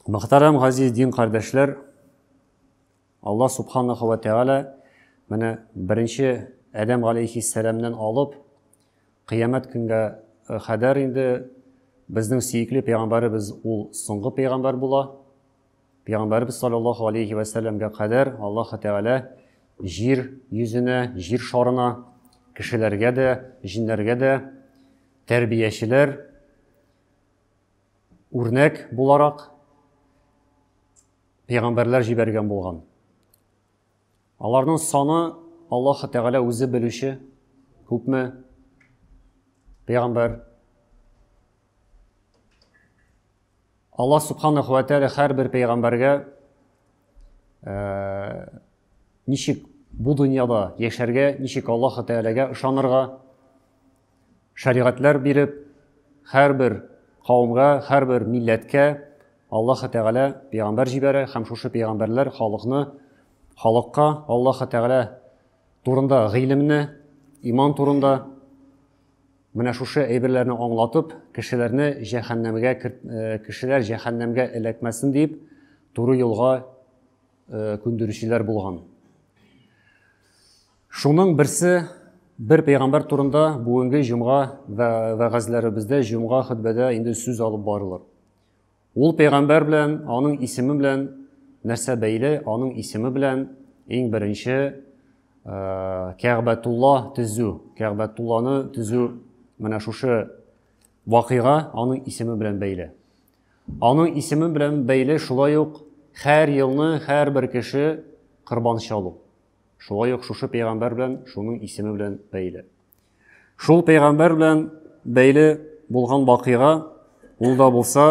Мөхтәрәм газиз дин кардәшләр, Аллаһ субханаһу ва тәгалә менә беренче Адәм алейхиссәламнән алып кыямәт көнгә хәдәр инде безнең сөекле пәйгамбәребез ул соңгы пәйгамбәр була. Пәйгамбәрбез саллаллаһу алейһи вә сәлләмгә кадәр Аллаһы Тәгалә җир йөзенә, җир шарына кешеләргә дә, җиннәргә дә тәрбиячеләр үрнәк буларак пәйгамбәрләр җибәргән булган. Аларның саны Аллаһы Тәгалә үзе белүче, күпме пәйгамбәр Аллаһ Субханаху ва Тәгалә һәрбер пәйгамбәргә ничек бу дөньяда яшәргә, ничек Аллаһ Тәгаләгә ышанырга шәригатьләр биреп, һәрбер кавымга, һәрбер милләткә Аллаһ Тәгалә пәйгамбәр җибәрә һәм шушы пәйгамбәрләр халыкны халыкка Аллаһ Тәгалә турында гыйлемне, иман турында Менә шушы әйберләрне аңлатып, кешеләрне җәһәннәмгә кешеләр җәһәннәмгә эләкмәсен дип, туры юлга күндерүчеләр булган. Шуның берсе бер пәйгамбәр турында бүгенге җомга вәгазьләребездә, җомга хөтбәдә инде сүз алып барылыр. Ул пәйгамбәр белән, аның исеме белән нәрсә бәйле? Аның исеме белән иң беренче Кәгъбәтулла төзү, Кәгъбәтулланы төзү менә шушы вакыйга аның исеме белән бәйле. Аның исеме белән бәйле шулай ук һәр елны һәрбер кеше корбан чалу. Шулай ук шушы пәйгамбәр белән, шуның исеме белән бәйле. Шул пәйгамбәр белән бәйле булган вакыйга, ул да булса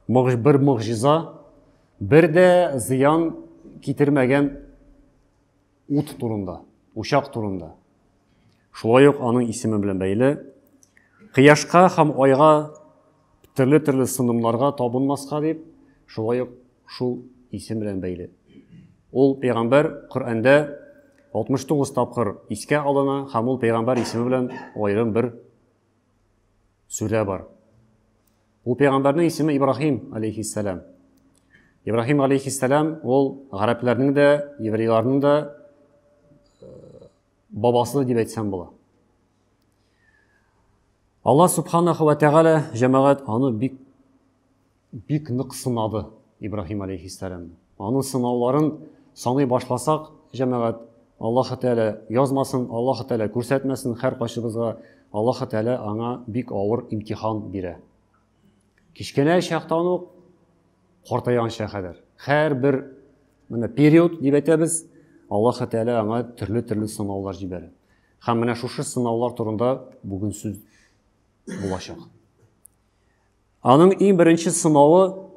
бер могҗиза, бер дә зыян китермәгән ут турында, учак турында. Шулай ук аның исеме белән бәйле. Кыяшка һәм айга Төрле-төрле сынымнарга табынмаска дип, шулай ук шул исем белән бәйле. Ул пәйгамбәр Коръәндә 69 тапкыр искә алына һәм ул пәйгамбәр исеме белән аерым бер сүрә бар. Ул пәйгамбәрнең исеме Ибраһим алейхиссалам. Ибраһим алейхиссалам ул гарәпләрнең дә, еврейларның да э, бабасы дип әйтсәм була. Алла субханаху ва тәгалә җәмәгать аны бик бик нык сынады Ибраһим алейхиссәләм. Аның сынауларын саный башласак, җәмәгать, Аллаһ Тәгалә язмасын, Аллаһ Тәгалә күрсәтмәсен һәр кайсыбызга. Аллаһ Тәгалә аңа бик авыр имтихан бирә. Кечкенә чактан ук картайганча кадәр. Һәр бер менә период дип әйтәбез, Аллаһ Тәгалә аңа төрле-төрле сынаулар җибәрә. Һәм менә шушы сынаулар турында бүген сүз булачак. Аның иң беренче сынавы,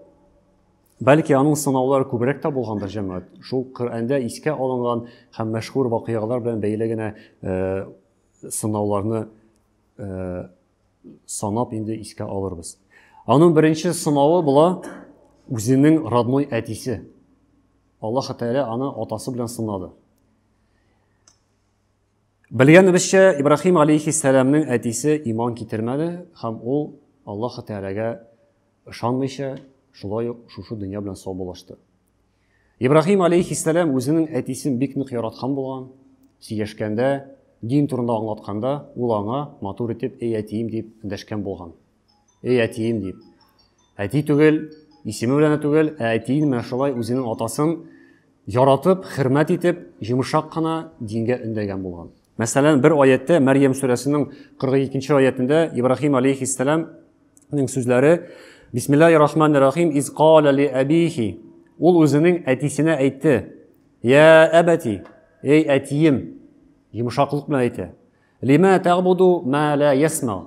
бәлки аның сынаулары күбрәк тә булгандыр җәмәгать. Шул Коръәндә искә алынган һәм мәшһүр вакыйгалар белән бәйле генә э, сынауларны э, санап инде искә алырбыз. Аның беренче сынавы була үзенең родной әтисе. Аллаһ Тәгалә аны атасы белән сынады. Белгәнебезчә, Ибрахим алейхиссәламның әтисе иман китермәде һәм ул Аллаһ Тәгаләгә ышанмыйча, шулай ук шушы дөнья белән саубуллашты. Ибрахим алейхиссәлам үзенең әтисен бик нык яраткан булган. Сөйләшкәндә, дин турында аңлатканда, ул аңа матур итеп «Эй әтием» дип дәшкән булган. Эй, әтием дип. Әти түгел, исеме белән дә түгел, ә әтиен менә шулай үзенең атасын яратып, хөрмәт итеп, йомшак кына дингә өндәгән булган. Мәсәлән, бер аятта Мәрьям сүрәсенең 42-нче аятында Ибраһим алейхиссалам Ның сүзләре Бисмиллахи рахмани рахим из кала ли абихи Ул үзенең әтисенә әйтте Я әбәти Эй әтием Йомшаклык белән әйтә Лима тәгбуду ма ла ясма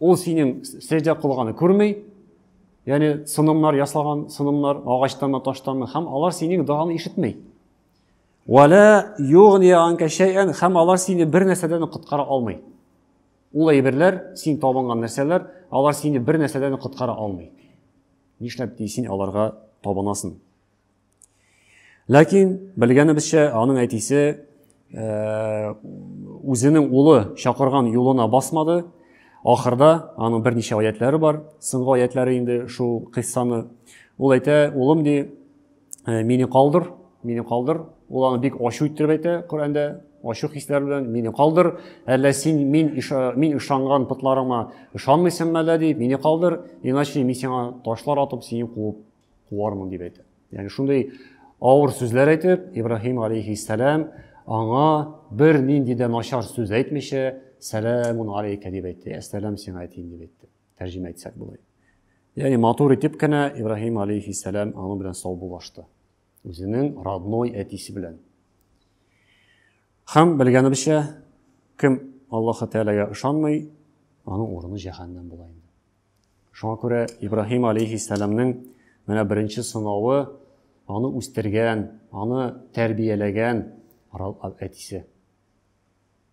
Ул синең сәҗдә кылганы күрми, яни сынымнар ясаган, сынымнар агачтанмы, таштанмы, һәм алар синең доганы ишетми. Вала югни анка шәйән, һәм алар сине бер нәрсәдән коткара алмый. Ул әйберләр, син табынган нәрсәләр, алар сине бер нәрсәдән коткара алмый. Нишләп ди син аларга табынасың? Ләкин, белгәнебезчә, аның әтисе э, үзенең улы чакырган юлына басмады. Ахырда аның берничә аятләре бар, соңгы аятләре инде шул кыйссаны. Ул әйтә, улым ди, э, мине калдыр, мине калдыр. Ул аны бик ачу иттереп әйтә Коръәндә, ачу хисләр белән мине калдыр, әллә син мин иша, мин ышанган пытларыма ышанмыйсыңмы әллә дип, мине калдыр, иначе мин сиңа ташлар атып, сине куып куармын дип әйтә. Ягъни шундый авыр сүзләр әйтеп, Ибраһим алейхиссалам аңа бер нинди дә начар сүз әйтмичә, сәламун алейка дип әйтте, әссәлам сиңа әйтим дип әйтте. Тәрҗемә итсәк болай. Ягъни матур итеп кенә Ибраһим алейхиссалам аның белән саубуллашты. Үзенең родной әтисе белән. Хәм белгәнебезчә, кем Аллаһ Тәгаләгә ышанмый, аның урыны җәһәннәм була инде. Шуңа күрә Ибраһим алейһиссәламнең менә беренче сынавы аны үстергән, аны тәрбияләгән әтисе.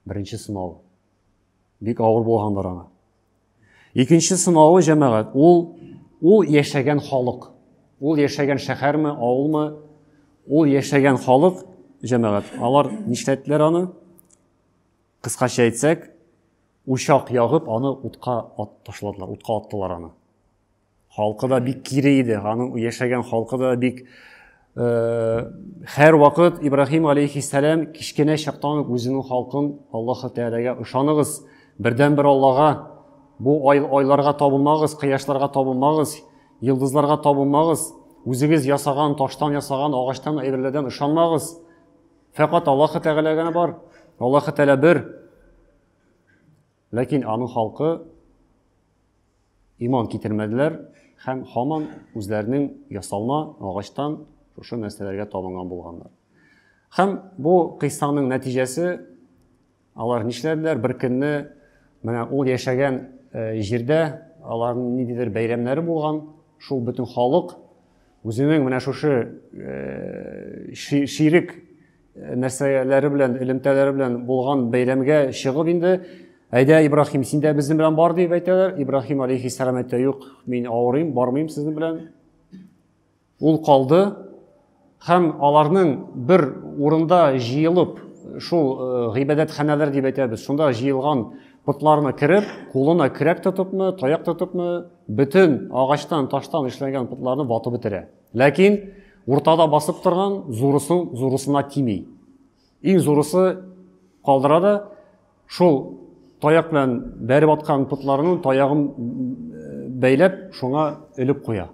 Беренче сынавы. Бик авыр булгандыр аңа. Икенче сынавы җәмәгать, ул ул яшәгән халык. Ул яшәгән шәһәрме, авылмы? Ул яшәгән халык җәмәгать. Алар нишләттеләр аны? Кыскача әйтсәк, учак ягып, аны утка ат ташладылар, утка аттылар аны. Халкы да бик кире иде, аның яшәгән халкы да бик э, һәр вакыт Ибраһим алейхиссәлам кечкенә чактан ук үзенең халкын Аллаһ Тәгаләгә ышаныгыз, бердәнбер Аллага, бу ай, айларга табынмагыз, кояшларга табынмагыз, йолдызларга табынмагыз, үзегез ясаган таштан ясаган агачтан әйберләрдән ышанмагыз. Фәкат Аллаһы Тәгалә генә бар. Аллаһы Тәгалә бер. Ләкин аның халкы иман китермәделәр һәм һаман үзләренең ясалма агачтан шушы нәрсәләргә табынган булганнар. Һәм бу кыйссаның нәтиҗәсе Алар нишләделәр? Бер көнне менә ул яшәгән җирдә аларның ниндидер бәйрәмнәре булган, шул бөтен халык үзенең менә шушы ширек нәрсәләре белән, элемтәләре белән булган бәйрәмгә чыгып инде, әйдә, Ибрахим, син дә безнең белән бар дип әйтәләр. Ибрахим алейхиссалам әйтә, юк, мин авырыйм, бармыйм сезнең белән. Ул калды һәм аларның бер урында җыелып, шул гыйбадәтханәләр дип әйтәбез, шунда җыелган потларына кереп, кулына көрәк тотыпмы, таяк тотыпмы, бөтен агачтан, таштан эшләнгән потларны ватып бетерә. Ләкин уртада басып торган зурысын зурысына тими. Иң зурысы калдыра да шул таяк белән бәреп аткан потларының таягын бәйләп, шуңа элеп куя.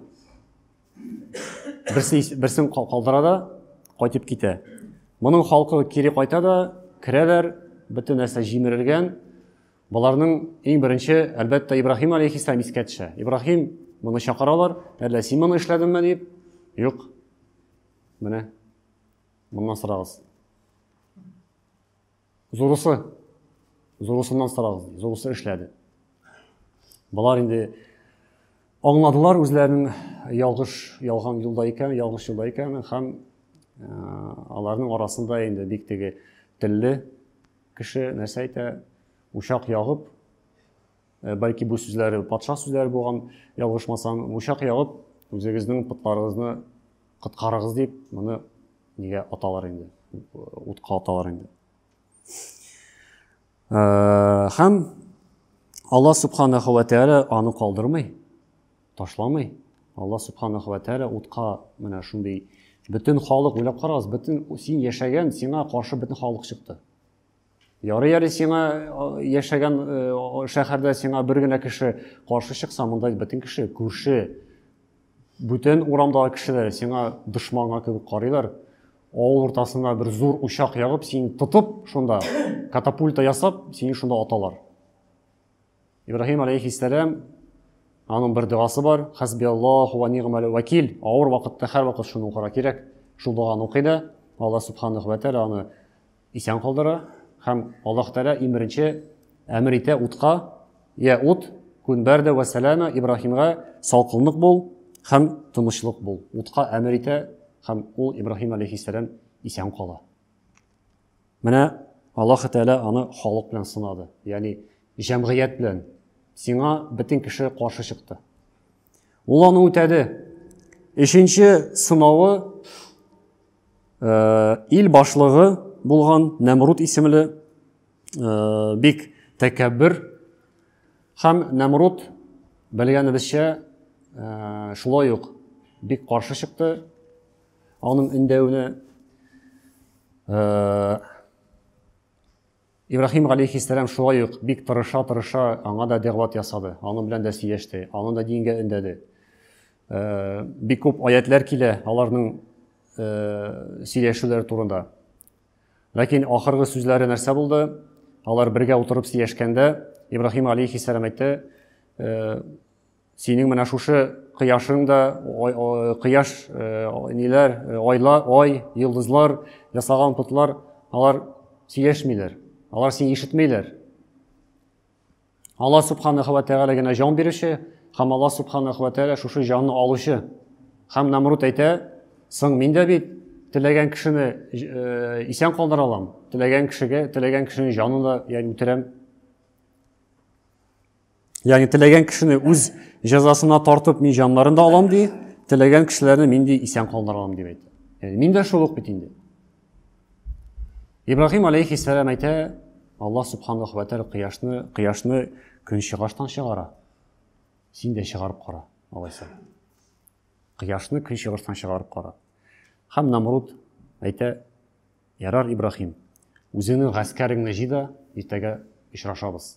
Берсе, берсен калдыра да, кайтып китә. Моның халкы кире кайта да, керәләр, бөтен нәрсә җимерелгән. Боларның иң беренче, әлбәттә, Ибраһим алейхиссалам искә төшә. Ибраһим моны чакыралар, әллә син моны эшләдеңме дип? Юк. Менә. Моннан сорагыз. Зурысы, зурысыннан сорагыз, зурысы эшләде. Балар инде аңладылар үзләренең ялгыш ялган юлда икән, ялгыш юлда икән һәм э, аларның арасында инде бик теге телле кеше нәрсә әйтә, учак ягып, э, бәлки бу сүзләре патша сүзләре булган, ялгышмасам, учак ягып, үзегезнең потларыгызны Коткарыгыз дип, моны нигә аталар инде? Утка аталар инде. Э, һәм Алла субханаһу ва тәгалә аны калдырмый, ташламый. Алла субханаһу ва тәгалә утка менә шундый бөтен халык уйлап карагыз, бөтен син яшәгән, сиңа каршы бөтен халык чыкты. Ярый әле сиңа яшәгән шәһәрдә сиңа бер генә кеше каршы чыкса, монда бөтен кеше, күрше, бүтән урамдагы кешеләр сиңа дошманга кебек карыйлар. Авыл уртасына бер зур учак ягып, син тотып шунда катапульта ясап, сине шунда аталар. Ибраһим алейхиссәләм аның бер догасы бар, хәсби Аллаһу ва нигъмәл вәкил, авыр вакытта һәрвакыт шуны укырга кирәк. Шул доганы укый да, Алла субханаху ва тәгалә аны исән калдыра һәм Аллаһ тәгалә иң беренче әмер итә утка, я ут, күн бәрдә вә сәлама Ибраһимга салкынлык бул һәм тынычлык бул. Утка әмер итә һәм ул Ибраһим алейхиссәләм исән кала. Менә Аллаһы Тәгалә аны халык белән сынады, ягъни җәмгыять белән. Сиңа бөтен кеше каршы чыкты. Ул аны үтәде. Өченче сынавы э, ил башлыгы булган Нәмрут исемле э, бик тәкәббер һәм Нәмрут белгәнебезчә э, шулай ук бик каршы чыкты Аның өндәвенә Ибрахим алейхиссәлам шулай ук бик тырыша-тырыша аңа да дәгъват ясады. Аның белән дә сөйләште, аны да дингә өндәде. Э, бик күп аятлар килә аларның э, сөйләшүләре турында. Ләкин ахыргы сүзләре нәрсә булды? Алар бергә утырып сөйләшкәндә Ибрахим алейхиссәлам әйтте, э, Синең менә шушы кояшың да, кояш, ниләр, айла, ай, йылдызлар, ясаган путлар, алар сөйләшмиләр. Алар сине ишетмиләр. Алла Субханаху ва Тәгалә генә җан бирүче һәм Алла Субханаху ва Тәгалә шушы җанны алучы. Һәм Намрут әйтә, соң мин дә бит теләгән кешене э, исән калдыра алам, теләгән кешегә, теләгән кешенең җанын да ягъни үтерәм. Ягъни теләгән кешене үз җәзасына тартып мин җаннарын да алам ди, теләгән кешеләрне мин ди исән калдырам дип әйтә. Яни мин дә шул ук бит инде. Ибраһим алейхиссалам әйтә, Аллаһ субханаху ва тааля кояшны, кояшны көнчыгыштан чыгара. Син дә чыгарып кара, алайса. Кояшны көнчыгыштан чыгарып кара. Хәм Намруд әйтә, Ярар Ибраһим, үзеңнең гаскәреңне җыйда, иртәгә очрашабыз.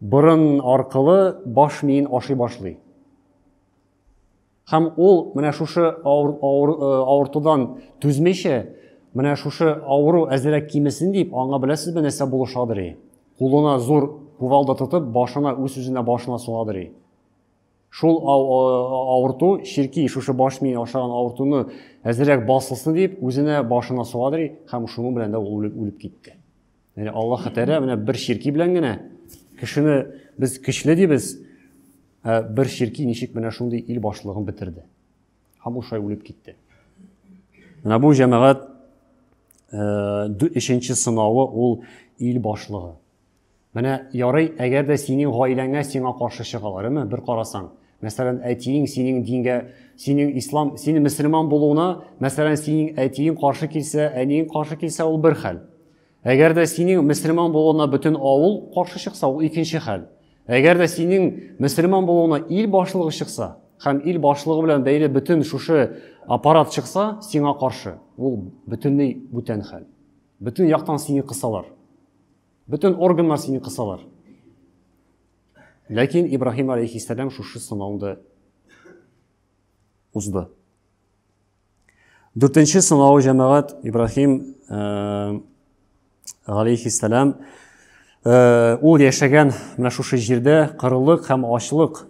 Борын аркылы баш миен ашый башлый. Һәм ул менә шушы авыр, авыр, э, авыртудан түзмичә, менә шушы авыру әзерәк кимесен дип, аңа беләсезме нәрсә булышадыр? Кулына зур кувалда тотып, башына үз-үзенә башына сугадыр. Шул авырту чирки шушы баш мие ашаган авыртуны әзерәк басылсын дип үзенә башына суадырый һәм шуның белән дә ул үлеп китте. Яни Аллаһ Тәгалә менә бер чирки белән генә кешене без көчле дибез, ә бер чирки ничек менә шундый ил башлыгын бетерде. Һәм ул шулай үлеп китте. Менә бу җәмәгать өченче сынавы ул ил башлыгы. Менә ярый, әгәр дә синең гаиләңә сиңа каршы чыгалар, әмма бер карасаң, мәсәлән, әтиең синең дингә, синең ислам, синең мөселман булуына, мәсәлән, синең әтиең каршы килсә, әниең каршы килсә, ул бер хәл. Әгәр дә синең мөселман булуына бөтен авыл каршы чыкса, ул икенче хәл. Әгәр дә синең мөселман булуына ил башлыгы чыкса, һәм ил башлыгы белән бәйле бөтен шушы аппарат чыкса, сиңа каршы, ул бөтенләй бүтән хәл. Бөтен яктан сине кысалар. Бөтен органнар сине кысалар. Ләкин Ибраһим алейхиссәлам шушы сынауны узды. Дүртенче сынау җәмәгать Ибраһим э, алейхиссәлам э, ул яшәгән менә шушы җирдә кырылык һәм ачлык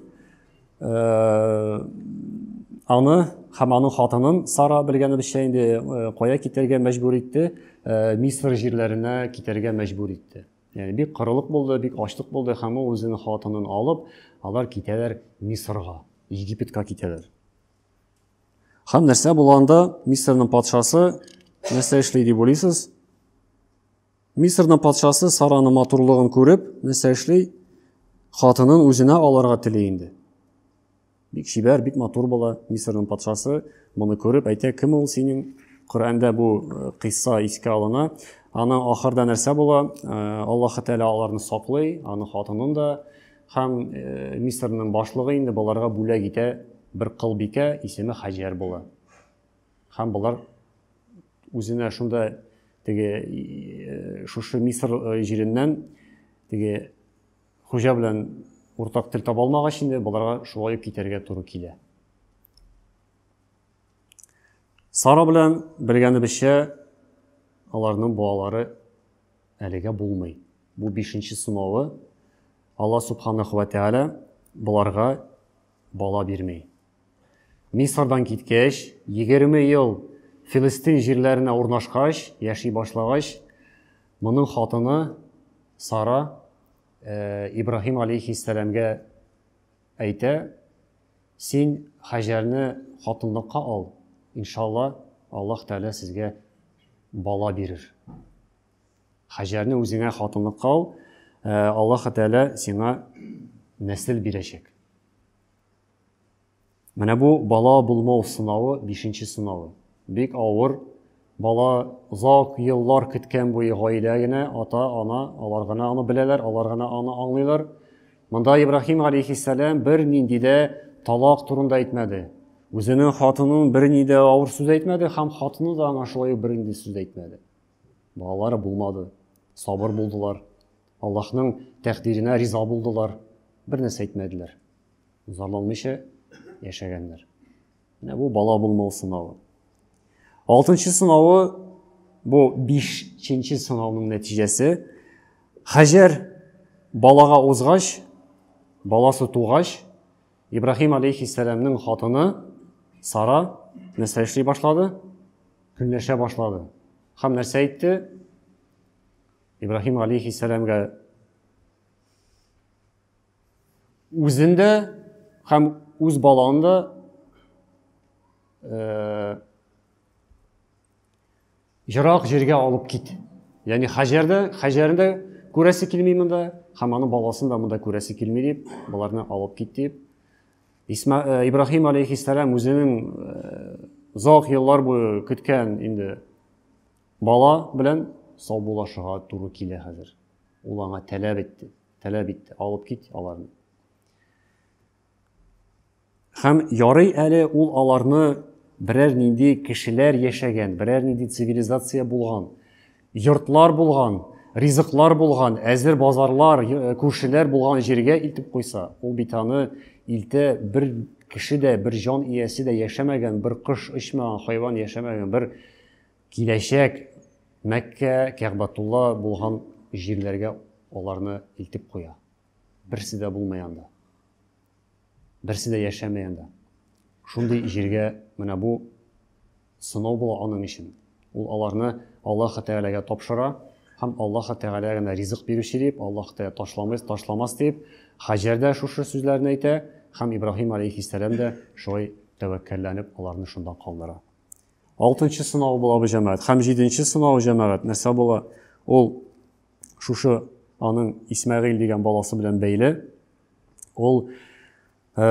аны һәм аның хатынын Сара белгәнебезчә инде кая китәргә мәҗбүр итте? Мисыр җирләренә китәргә мәҗбүр итте. Яни бик кырылык булды, бик ачлык булды һәм ул үзенең хатынын алып, алар китәләр Мисырга, Египетка китәләр. Һәм нәрсә булганда Мисырның патшасы нәрсә эшли дип уйлыйсыз? Мисырның патшасы Сараның матурлыгын күреп, нәрсә эшли? Хатынын үзенә алырга тели инде. Бик чибәр, бик матур була. Мисырның патшасы моны күреп әйтә, кем ул синең? Коръәндә бу э, кыйсса искә алына. Аны ахырда нәрсә була? Э, Аллаһ Тәгалә аларны саклый, аны хатынын да һәм э, Мисырның башлыгы инде боларга бүләк итә бер кылбикә, исеме Хаҗәр була. Һәм болар үзенә шунда теге э, шушы Мисыр э, җиреннән теге хуҗа белән уртак тел таба алмагач инде боларга шулай ук китәргә туры килә. Сара белән белгәнебезчә аларның балалары әлегә булмый. Бу бишенче сынавы. Алла субханаху ва тәгалә боларга бала бирмей. Мисырдан киткәч, егерме ел Филистин җирләренә урнашкач, яши башлагач, моның хатыны Сара Ибраһим алейхиссәламгә әйтә, Син Хаҗәрне хатынлыкка ал, иншалла, Аллаһ Тәгалә сезгә бала бирер. Хаҗәрне үзеңә хатынлыкка ал, Аллаһ Тәгалә сиңа нәсел бирәчәк. Менә бу бала булмау сынавы, бишенче сынавы. Бик авыр. Бала озак еллар көткән буе гаилә генә, ата, ана, алар гына аны беләләр, алар гына аны аңлыйлар. Монда Ибраһим алейхиссәләм бер нинди дә талак турында әйтмәде. Үзенең хатынын бер ни дә авыр сүз әйтмәде һәм хатыны да аңа шулай бер нинди сүз әйтмәде. Балалары булмады. Сабыр булдылар. Аллаһның тәкъдиренә риза булдылар. Бер нәрсә әйтмәделәр. Зарланмыйча яшәгәннәр. Менә бу бала булмау сынавы. Алтынчы сынавы бу бишенче сынауның нәтиҗәсе. Хаҗәр балага узгач, баласы тугач, Ибраһим алейхиссәламның хатыны Сара нәрсә эшли башлады? Көнләшә башлады. Хәм нәрсә әйтте? Ибраһим алейхиссәламга үзен дә һәм үз баланы да э, ерак җиргә алып кит. Ягъни Хаҗәрдә, Хаҗәрдә күрәсе килми монда, һәм аның баласын да монда күрәсе килми дип, боларны алып кит дип. Исма, э, Ибраһим алейхиссалам үзенең э, озак еллар буе көткән инде бала белән саубуллашырга туры килә хәзер. Ул аңа таләп итте. таләп итте, алып кит аларны. Хәм ярый әле ул аларны берәр нинди кешеләр яшәгән, берәр нинди цивилизация булган, йортлар булган, ризыклар булган, әзер базарлар, э, күршеләр булган җиргә илтеп куйса, ул бит аны илтә бер кеше дә, бер җан иясе дә яшәмәгән, бер кыш очмаган, хайван яшәмәгән, бер Киләчәк Мәккә, Кәгъбатулла булган җирләргә аларны илтеп куя. Берсе дә булмый анда. Берсе дә яшәмәй анда. Шундый җиргә менә бу сынау була аның өчен. Ул аларны Аллаһ Тәгаләгә тапшыра һәм Аллаһ Тәгалә генә ризык бирүче дип, Аллаһ Тәгалә ташламас, ташламас дип, Хаҗәр дә шушы сүзләрне әйтә һәм Ибраһим алейхиссәлам да шулай тәвәккәлләнеп аларны шунда калдыра. Алтынчы сынау була бу җәмәгать. Һәм җиденче сынау җәмәгать нәрсә була? Ул шушы аның Исмәгыйль дигән баласы белән бәйле. Ул э,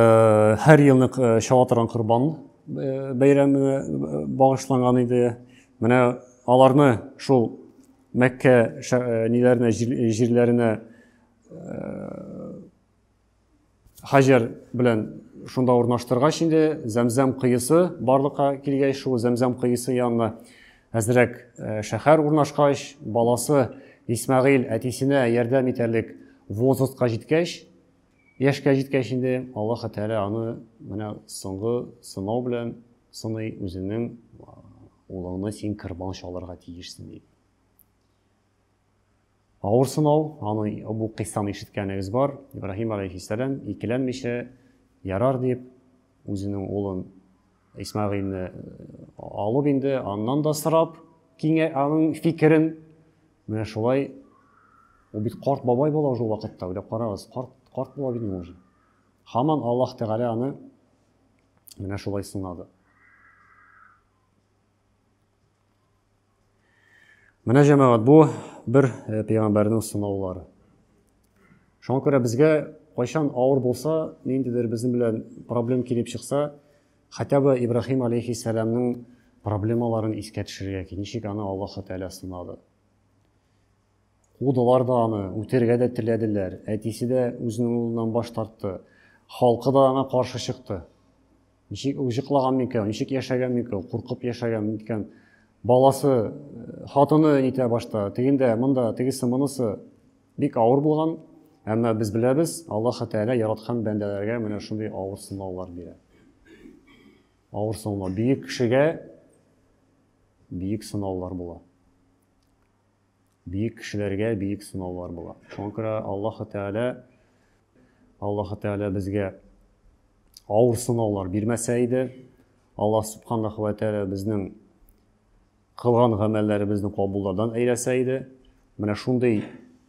һәр елны э, чаба торган корбан э, бәйрәменә багышланган иде. Менә аларны шул Мәккә ниләренә җирләренә Хаҗәр белән шунда урнаштыргач инде Зәмзәм кыйысы барлыкка килгәч шул Зәмзәм кыйысы янына әзрәк шәһәр урнашкач баласы Исмәгыйль әтисенә ярдәм итәрлек возрастка җиткәч яшькә җиткәч инде Аллаһы Тәгалә аны менә соңгы сынау белән сыный үзенең улыңны син кырбан чалырга тиешсең дип. Авыр сынау, аны бу кыйссаны ишеткәнегез бар. Ибраһим алейхиссәлам икеләнмичә ярар дип үзенең улын Исмагыйльне э, алып инде, аннан да сорап, киңә аның фикерен. Менә шулай ул бит карт бабай була уже вакытта, уйлап карагыз, карт карт була бит уже. Хаман Аллаһ Тәгалә аны менә шулай сынады. Менә җәмәгать, бу бер э, пәйгамбәрнең сынаулары. Шуңа күрә безгә кайчан авыр булса, ниндидер безнең белән проблем килеп чыкса, хотя бы Ибраһим алейхиссәламның проблемаларын искә төшерергә кирәк. Ничек аны Аллаһ Тәгалә сынады. Кудылар да аны, үтергә дә теләделәр. Әтисе дә үзенең улыннан баш тартты. Халкы да аңа каршы чыкты. Ничек уҗыклаган микән, ничек яшәгән микән, куркып яшәгән микән. Баласы, хатыны нитә башта, тегендә, монда, тегесе, монысы. Бик авыр булган, әмма без беләбез, Аллаһы Тәгалә яраткан бәндәләргә менә шундый авыр сынаулар бирә. Авыр сынаулар. Бөек кешегә бөек сынаулар була. Биек кешеләргә биек сынаулар була. Шуңа күрә Аллаһы Тәгалә Аллаһы Тәгалә безгә авыр сынаулар бирмәсә иде, Аллаһ Субханаху ва Тәгалә безнең кылган гамәлләребезне кабуллардан әйләсә иде, менә шундый